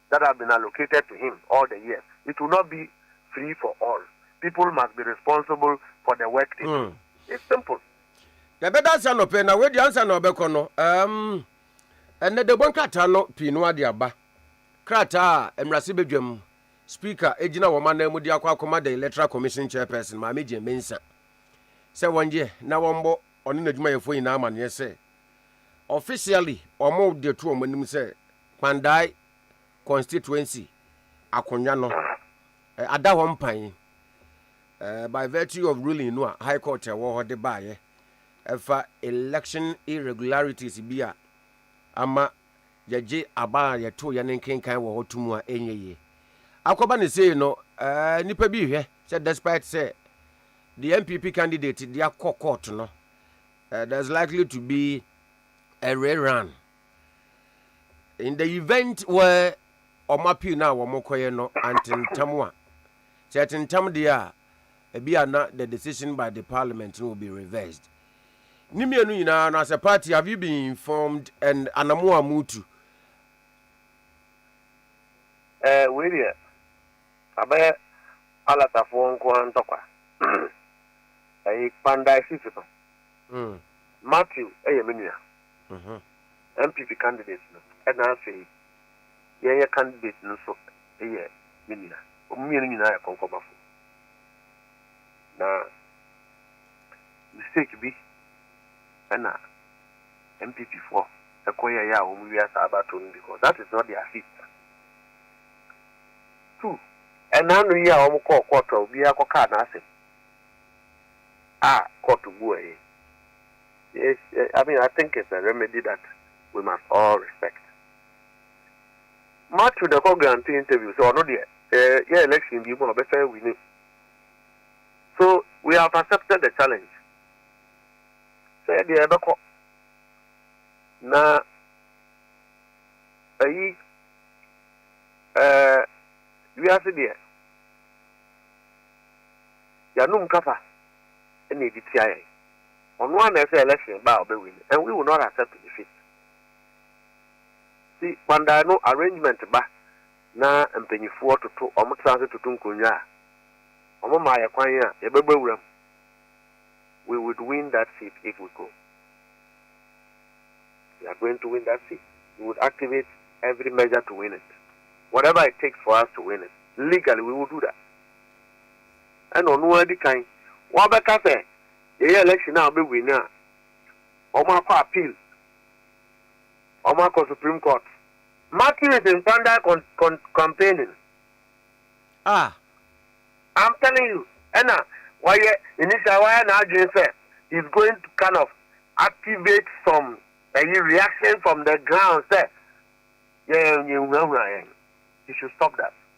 Speaker 4: that have been allocated to him all the years, it will not be free for all. People must be responsible for the work they do. It's simple. Yɛbɛda
Speaker 9: ase anɔpɛ na wadi ansa na ɔbɛkɔ no. Um, ɛnɛ debɔ nkrataa no pii no ade aba. Krataa a mmarahyɛ badwam speaker gyina wɔn anan mu de akɔ akɔma the electoral commission chairperson Maame Jane Mensah sɛ wɔnyɛ na wɔmmɔ ɔne n'adwumayɛfoɔ nyinaa amaneɛ sɛ officially wɔn de to wɔn anim sɛ Kpandai constituency akonnwa no ada hɔ mpan by virtue of ruling no a High Court ɛwɔ hɔ de baeɛ ɛfa election irregularities bi a ama yɛgye aba a yɛto yɛn nkenkan wɔ hɔ to mu a ɛnyɛ yie. Akɔba ne sei no, nnipa bi hwɛ sɛ despite sɛ the NPP candidate de akɔ court no, there's likely to be a rerun. in the event where wɔn appeal no a wɔkɔyɛ no antentam a, sɛ ɛtentam deɛ a, ebi a na the decision by the parliament no will be reversed. Ne mmienu nyinaa no, as a party, have you been informed and anamo a motu?
Speaker 4: Eh, wei deɛ, abɛyɛ Alatafoɔ nko ara ntɔkwa. Ayi, Kpandai Sisi no, Matthew yɛ me nua. no ho. NPP candidate no na afei yɛn yɛ candidate no nso yɛ me nua. Wɔn mmienu nyinaa yɛ kɔnkɔbafo. Na mistake bi na NPP foɔ kɔ yɛ yɛ a wɔn wia saa battle no because that is not their seat. Two, ɛna ano yi a wɔn kɔɔ court a obiara kɔ kaa n'asɛm a court buɛɛ Yes, I mean I think it's a remedy that we must all respect. Matthew na ɛkɔ grant interview so ɔno deɛ yɛ election bi mu a ɔbɛsan wini. So we have accepted the challenge. Sɛ yɛ deɛ ɛbɛkɔ na ɛyi ɛɛ wiase deɛ yanom kasa ɛna edi tia yɛn. Ɔno ara na ɛsɛ election ba a ɔbɛ win and we will not accept defeat. Ti Kwandae no arrangement ba na mpanyinfoɔ toto ɔmo tra ase toto nkonnwa a, ɔmo maa yɛ kwan a, yɛ bɛ bɔ awura mu. We would win that seat if we go. We are going to win that seat. We would activate every measure to win it. Whatever it takes for us to win it, legally we will do that. ɛna ɔno ara di kan wabɛka sɛ yɛyɛ election a ɔbɛ win a wɔn akɔ appeal wɔn akɔ supreme court. Matthew is in Pandai con con campaigning. Ah. I'm telling you, ɛna wayɛ initial wayɛ n'adwene sɛ he's going to kind of activate some ɛyi reaction from the ground sɛ yɛn yɛn hunahuna yɛn. He should stop that.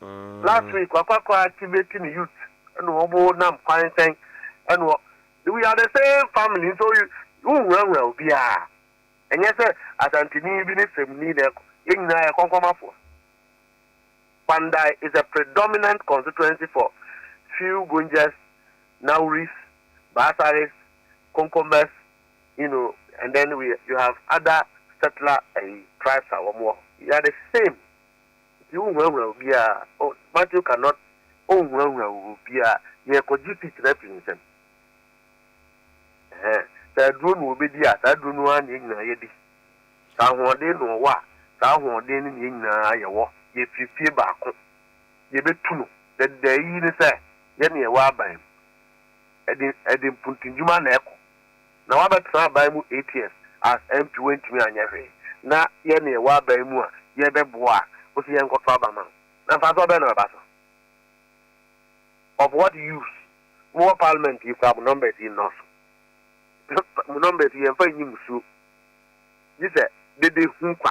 Speaker 4: Last week wakɔ akɔ activate ne youth ɛna ɔmo nam kwan sɛn ɛna ɔ we are the same family nso wonhurahura obiara ɛnyɛ sɛ Asanteni bi ne Semni na ɛkɔ yɛn nyinaa yɛ kɔnkɔmafoɔ Kpandai is a predominant constituency for few Gunjers, Nauris, Baasaris, Konkombas you know and then we you have other settler ɛyi tribes a wɔn wɔ hɔ we are the same. Nti wonhunahuna obiara a oh Matthew cannot onhunahuna obiara nea ɛkɔgye seat no afi ne nsam ɛhɛɛ sɛ aduro na ɔbɛdi a saa aduro no ara na yɛn nyinaa yɛdi sɛ ahoɔden na ɔwɔ a saa ahoɔden no na yɛn nyinaa yɛwɔ yɛfiri fie baako yɛbɛtu no dɛdɛdɛ ayi ne sɛ yɛne yɛwɔ aban mu ɛde ɛde mpuntunwuma na ɛkɔ. Na wabɛtena aban mu eight years as MP wantumi anyɛ hwee na yɛ na yɛwɔ aban mu a yɛbɛboa a wose yɛnkɔto aba ma no na mfasoɔ bɛn na bɛba so? Of what use? Mowɔ parliament yi koraa mo numbers yi nnɔɔso mo numbers yi yɛmfa nyi musuo gye sɛ dede hu kwa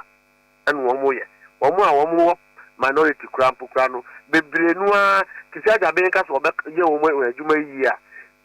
Speaker 4: ɛna wɔn yɛ wɔn a wɔn wɔ minority koraa mpo koraa no bebree no ara te sɛ agyaben ka sɛ wɔbɛyɛ wɔn adwuma yi yie a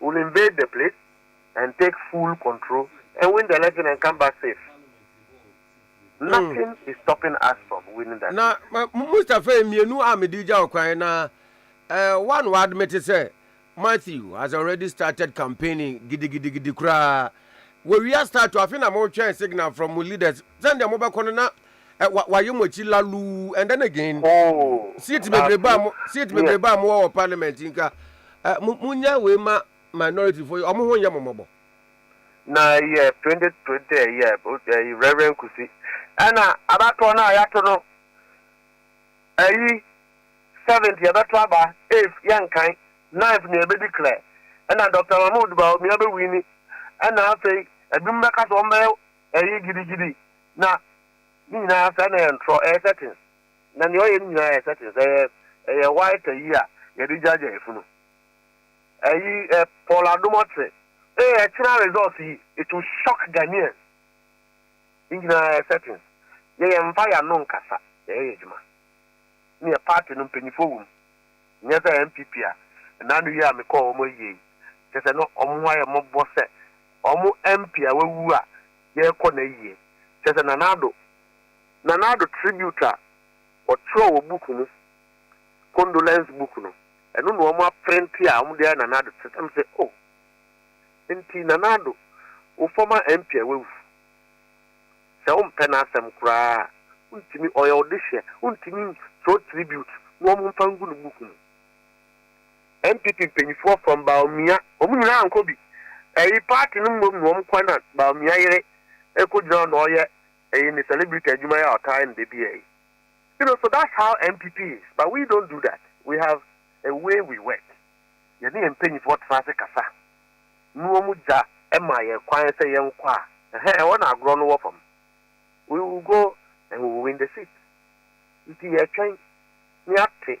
Speaker 4: will invade the place and take full control and win the election and come back safe. Hmm. Nothing mm. is stopping us from winning that. Na Mustafa
Speaker 9: mmienu a mede gya ɔkwan na uh, one wa admit sɛ Matthew has already started campaigning gidigidigidi koraa. Wɔwia start afe na motwɛn signal from mo leaders sɛndeɛ mobɛkɔ no na ɛ wa wayɛ mo akyi laluu and then again seat bebrebe a mo seat bebrebe a mo wɔ wɔ parliament nka ɛ mo mo nya wei ma minority fo ɔmo ho nyɛ mo mɔbɔ. na
Speaker 4: ɛyɛ twenty twenty ɛyɛ ɛyi reverend kusi ɛna abatoɔ no a yɛato no ɛyi seventh yɛbɛto aba eighth yɛnkan ninth na yɛbɛ declare ɛna doctor mahmood bawumia bɛwini ɛna afei ɛbinom bɛka sɛ wɔn bɛyɛ ɛyi gidigidi Na ne nyinaa sɛ na ɛyɛ ntorɔ, ɛyɛ curtains. Na nea ɔyɛ ne nyinaa yɛ curtains, ɛyɛ ɛyɛ white ayi a yɛde gyaagyaa efunu. Ɛyi ɛ Paul Adom ɔkyerɛ. Ee ɛkyena results yi, it will shock Ghanaians. Ne nyinaa yɛ curtains. Yɛ yɛn mfa yɛn ano nkasa, yɛ yɛ yɛ adwuma. Ne yɛ party no mpanyinfoɔ wɔ mu. Nyɛ sɛ NPP a ɛna ano yi a me kɔɔ wɔn ayie yi, kyɛ sɛ na wɔn ho ayɛ mmɔbɔ sɛ wɔn MP a wawu a yɛrekɔ na yie. Kyerɛ sɛ Nana Addo, Nana Addo tribute a wɔtwerɛ wɔ book mu, condolence book no, ɛno na wɔn aprente a wɔn de ayɛ Nana Addo tribute. Ɛm sɛ oh, nti Nana Addo, wo former MP a wawu, sɛ wo mpɛ n'asɛm koraa a, wo ntumi, ɔyɛ wo dehyeɛ, wo ntumi ntwerɛ tribute na wɔn mfa ngu no book mu. NPP mpanyinfoɔ from Bawumia wɔn nyinaa ankɔ bi ɛyi party no mmom na wɔn kɔ ɛna Bawumia yere ɛkɔ gyina hɔ na ɔyɛ ɛyi ne celebrity adwuma yi a ɔtaa yɛ no da biaa yi you know so that's how NPP is but we don't do that we have a way we work yɛne yɛn mpanyinfoɔ tena ase kasa ne wɔn gya ɛma yɛn kwan sɛ yɛn kɔ a ɛhɛn ɛhɔ na agorɔ no wɔ fam we will go and we will win the seat nti yɛtwɛn ne ate.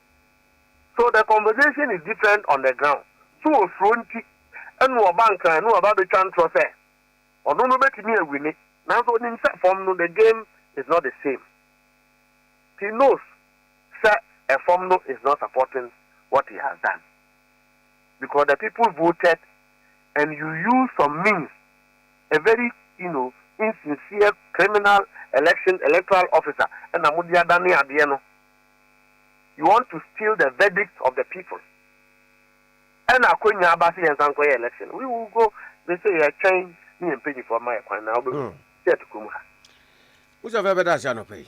Speaker 4: So the conversation is different on the ground? So osuro nti na ɔba nkran na waba abɛtwa ntorɔ sɛ ɔno no bɛtumi awine nanso ɔnim sɛ fam no the game is not the same. He knows sɛ ɛfam no is not supporting what he has done because the people voted and you use some means a very you know insincere criminal election electoral officer ɛna mode adane adeɛ no you want to steal the verdict of the people ɛna akonya aba sɛ yɛnsa nkɔyɛ election we will go they say yɛtwɛn ne yɛ mpanyinfoɔ
Speaker 9: ma yɛ
Speaker 4: kwan na wobɛhu sɛ ɛto kurom ha. Wosɛ fɛ bɛda ase
Speaker 9: anɔpa
Speaker 4: yi.